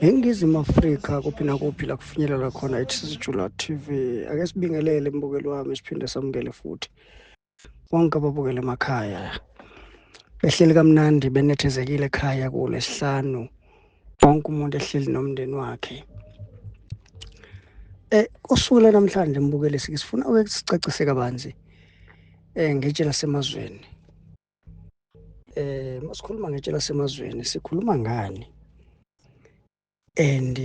eningizimu afrika kuphi nakuphi la kufinyelela khona itsizijula tv ake sibingelele mbukeli wami siphinde samukele futhi bonke ababukele emakhaya behleli kamnandi benethezekile ekhaya kulesihlanu wonke umuntu ehleli nomndeni wakhe eh usuku lanamhlanje mbukele sike sifuna ukusicacise kabanzi eh ngetshe lasemazweni eh masikhuluma ngetshe lasemazweni sikhuluma ngani and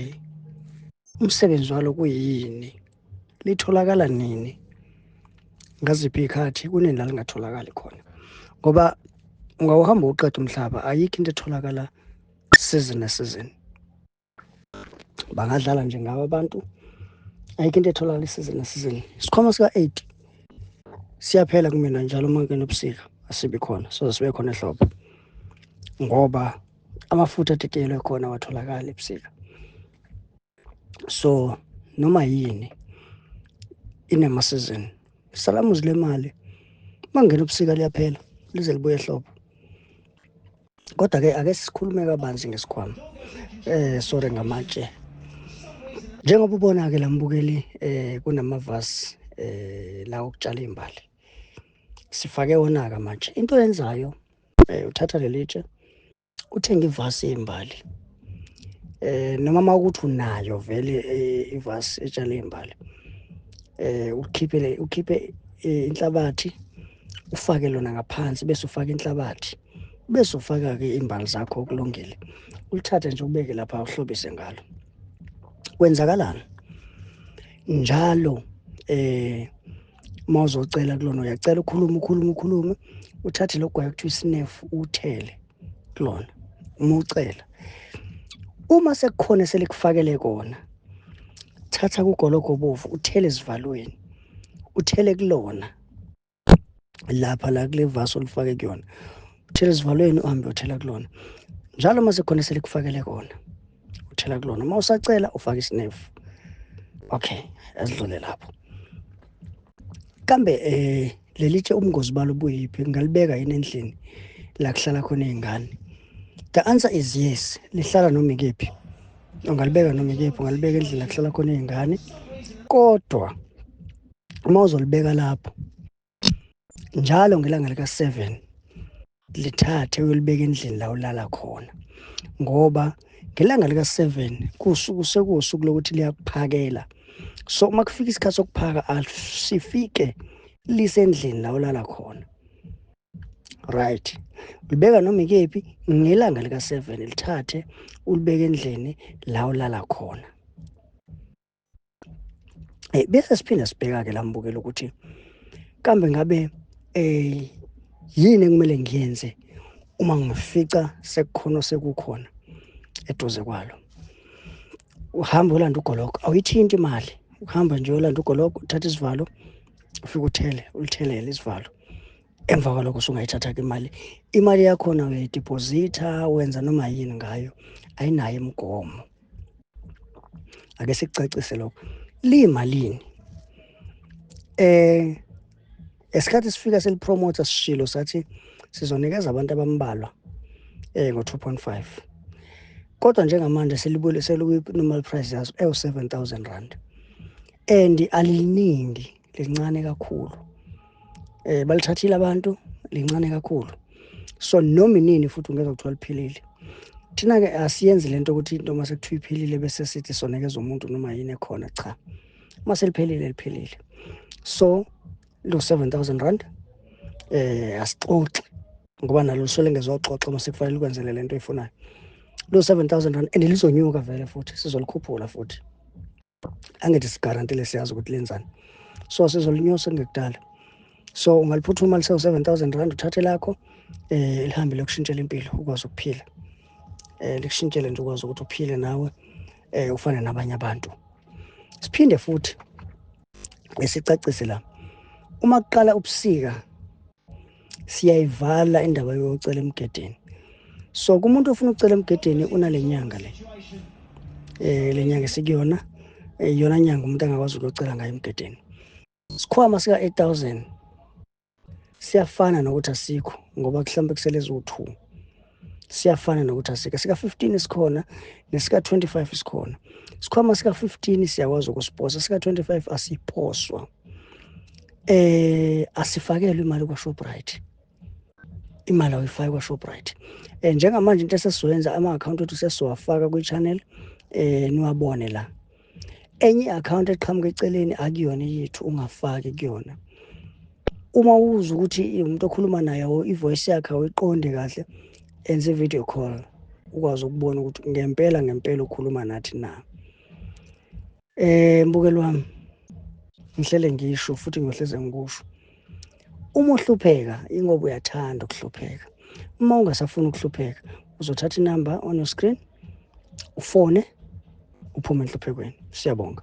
umsebenzi walo kuyini litholakala nini ngaziphi ikhathi kunini la lingatholakali khona ngoba ungawuhamba uqeda umhlaba ayikho into etholakala season nesizini bangadlala nje ngabo abantu ayikho into etholakala isize nesizini isikhwama sika-eight siyaphela kumina njalo uma kungena ubusika asibi khona soze sibe khona ehlobo ngoba amafutha atetelwe khona awatholakali ebusika so noma yini inemasizini isalamuzi lemali uma kungena ubusika liyaphela lize libuye ehlobo kodwa ke ake sikhulume kabanzi ngesikhwama eh sorry ngamatshe njengoba ubona ke lambukeli eh kunamavasi eh la okutshala imbali sifake wona ka manje into yenzayo eh uthatha lelitshe uthenga ivasi yembali eh noma makuthi unayo vele eh, ivasi etshale imbali eh ukhiphele ukhiphe eh, inhlabathi ufake lona ngaphansi bese ufaka inhlabathi bese ufaka-ke imbali zakho okulungile ulithathe nje ubeke lapha uhlobise ngalo kwenzakalani njalo eh uma uzocela kulona uyacela ukhulume ukhulume ukhulume uthathe lo gwayi kuthiwa isinefu uthele kulona uma ucela uma sekukhona selikufakele kona thatha kugologo bovu uthele esivalweni uthele kulona lapha la kule vasi olifake kuyona uthela esivalweni uhambe uthela kulona njalo uma sekhona selikufakele kona uthela kulona uma usacela ufake isinefu okay asidlule lapho kambe eh lelitshe ubungozi balo buyiphi ngalibeka yini endlini la kuhlala khona izingane the answer is yes lihlala noma ikephi ungalibeka noma ikephi ungalibeka endlini la kuhlala khona izingane kodwa uma uzolibeka lapho njalo ngelanga lika-seven lithathe uyolibeka endlini la ulala khona ngoba ngelanga lika-seven kusuku sekuwusuku lokuthi liyakuphakela so uma kufika isikhathi sokuphaka asifike lisendlini la ulala khona right ulibeka noma ikephi ngelanga lika-seven lithathe ulibeke endlini la ulala khona Eh bese siphinde sibheka ke lambukela ukuthi kambe ngabe eh yini ekumele ngiyenze uma ngifica sekukhona sekukhona eduze kwalo uhamba ulanda ugologo awuyithinti imali uhamba nje ulanda ugologo uthatha isivalo ufike uthele ulithelele isivalo emva kwalokho usungayithatha-ke imali imali yakhona uyayidiphozitha wenza noma yini ngayo ayinayo imigomo ake sikucacise lokho liyimalini eh esikhathi sifika selipromoter sishilo sathi sizonikeza abantu abambalwa eh ngo-2.5 kodwa njengamanje selibule selikuyi-normal price yaso ewu-7000 rand and aliningi lincane kakhulu eh balithathile abantu lincane kakhulu so noma inini futhi ungeke kuthiwa liphilile thina-ke asiyenzi le nto ukuthi into uma sekuthiwa iphelile bese sithi sonekeza umuntu noma yini ekhona cha uma seliphelile liphelile so lo 7000 rand eh asixoxi ngoba nalo lusole ngezoxoxa uma sekufanele ukwenzele le nto oyifunayo lo 7000 rand and lizonyuka vele futhi sizolikhuphula futhi angithi sigarantile siyazi ukuthi lenzani so sizolinyusa ngekudala so ungaliphuthuma lisewu 7000 rand uthathe lakho eh lihambe lokushintshela impilo ukwazi ukuphila eh likushintshele nje ukwazi ukuthi uphile nawe eh ufane nabanye abantu siphinde futhi esicacise la uma kuqala ubusika siyayivala indaba yocela emgedeni so kumuntu ofuna ukucela emgedeni unale nyanga le eh le nyanga esikuyona eh, iyona nyanga umuntu angakwazi ukuyocela ngayo emgedeni isikhwama sika-8000 siyafana nokuthi asikho ngoba kuhlambe kusele ziwu-two siyafana nokuthi asike sika-15 sikhona nesika-25 sikhona sikhwama sika-15 siyakwazi ukusiposa sika-25 asiphoswa eh asifakelwe imali kwa-shoprite imali awuyifaki kwa-shoprite um njengamanje into esesizoyenza ama-akhawunti ethu sesiwafaka kwi-channel um niwabone la enye i-account eqhamuka eceleni akuyona yethu ungafaki kuyona uma uza ukuthi umuntu okhuluma naye i-voice yakhe awuyiqondi kahle enze i-video call ukwazi ukubona ukuthi ngempela ngempela ukhuluma nathi na um mbukeli wami ngihlele ngisho futhi ngiyohleze ngikusho Uma uhlupheka ingoba uyathanda ukuhlupheka. Uma ungasafuni ukuhlupheka uzothatha inamba on your screen ufone uphume enhluphekweni. Siyabonga.